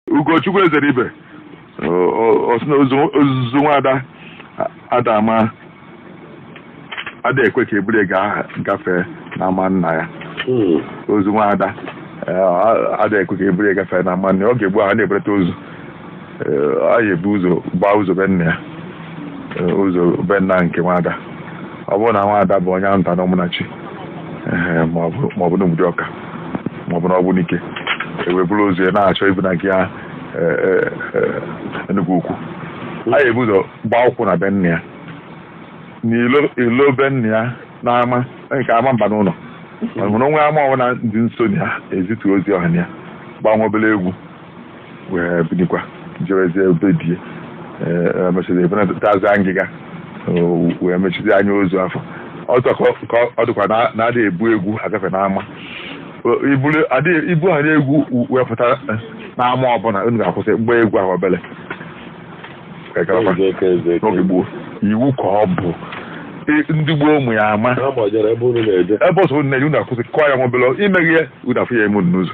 ugochukwu ezeribe o- o- ọ sị na ozu- ozu nwada ada ama ada ekwe ka eburu ga- gafee na ama nna ya Hmm. ozu nwada eh, a- ada ekwe ka eburu gafee na ama nna ya ọ ga-abụ ha na-ebereta ozu Eh, a ga-ebu ụzọ gbaa ụzọ be nna ya Eh, ụzọ be nna nke nwada ọ bụrụ na nwada bụ onye nta na ụmụnachi eh, maọbụ maọbụ n'obodo ọka ma ọ bụ na ogbunike e wee buru ozu ya na-achọ ibunaga ya Enugu ukwu a ga-ebu ụzọ gbaa ụkwụ na be nna ya n'ilo be nna ya n'ama nke ama mba n'ụlọ mana o nwe ama ọbụla dị nso na ya ezitu ozu ahụ na ya gbaa obere egwu wee bilikwa jewezie be di ya emechiri ebe na-etazi ngịga wee mechizi anya ozu afụ ọzọ ka ọ dịkwa na-adịghị ebu egwu agafe n'ama ibu ha na-egwu wee pụta n'ama ọbụla unu ga-akwụsị gbaa egwu ahụ obere n'oge gboo iwu ka ọ bụ ndị gboo ụmụ ya ama ebe ọsọ unu na-eje unu akwụsị kụọ ya nwa obele imeghị ya unu afụ ya emu n'ụzọ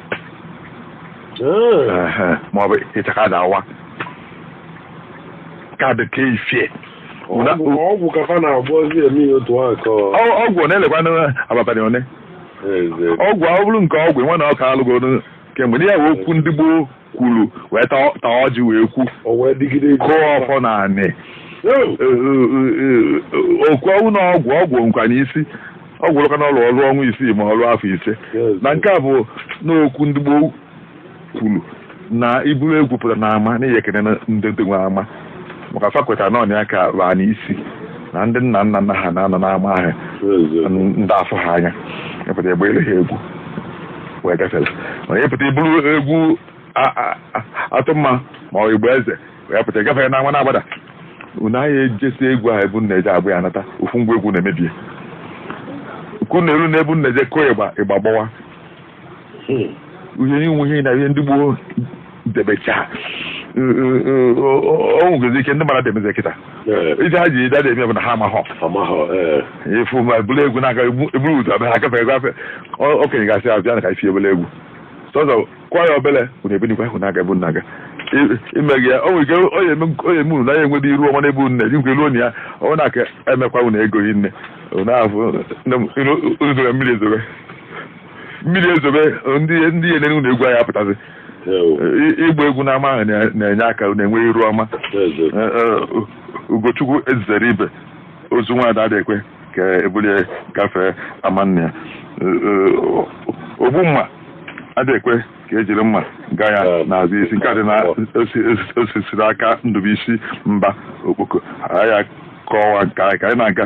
Ehe, ma ọ bụ ịchaka na-awa ka ọ dị ka ifie Ụna- Ọgwụ- ọgwụ ka fa na-agba ozi eme ya otu ahụ ka ọ- ọ- ọgwụ ọ na-elekwa na abalị one Eze. ọgwụ ọ bụrụ nke ọgwụ nwe na ọ ka alụgoro kemgbe ndị ya wee okwu ndị gboo kwuru wee ta ta ọjị wee kwu O wee dịgide ije. kụọ ọfọ na anị Yo! okwu ọnụ na ọgwụ ọgwụ ka n'isi ọgwụ rụka na ọ rụọ ọrụ ọnwa isii ma ọ rụọ afọ ise na nke a bụ n'okwu ndị gboo kwuru na i buru egwu pụta na ama na ị ya-ekene ndị ndị nwe ama maka fa kweta na ọnya ka baa n'isi na ndị nna nna nna ha na-anọ n'ama ahụ na ada afụ ha anya ị pụta ị gbaalụ ha egwu wee gafere mana ị pụta i buru egwu a- a- a- atụmma ma ọ ịgba eze wee pụta ị gafee n'ama na-agbada unu aya ejesi egwu ahụ ebe unu na-eje agba ya anata ofu ngwa egwu na-emebie ka unu elu na ebe unu na-eje kụọ ịgba ịgba gbawa ihe e nwe ihe na ihe ndị gboo debecha o nwegezi ike ndị mmadụ ada emezi kịta ife ha ji ada eme bụ na ha amahọ efu ma eburu egwu na-aga eburu ụzọ abịa ha gafere gafe okenye ga-asị abịa na ka isi ebele egwu sọzọ kwa ya obere unu ebinikwa ahụ na-aga ebe unu na-aga I- imeghị ya o nwere ike o ya eme- o ya eme unu na ya enwedị iru ọma n'ebe unu na-eje nkwe ruo na ya ọ na-aka emekwa unu ego yi nne unu ahụ nne m, unu- unu zoro mmiri ezobe mmiri ezobe ndị ndị ya-enene unu egwu aya apụtazi Ewo, I- ịgba egwu n'ama ahụ na- na-enye aka unu enwe iru ọma ezo. Eh, eh, ugochukwu ezeribe ozu nwaada adị ekwe ka ebulie gafee ama nna ya ogbu mma adị ekwe ka ejiri mma gaa ya n'azụ isi nke a dị na osisiri aka ndụbụisi mba okpoko ya kọwa nke anyị ka anyị na-aga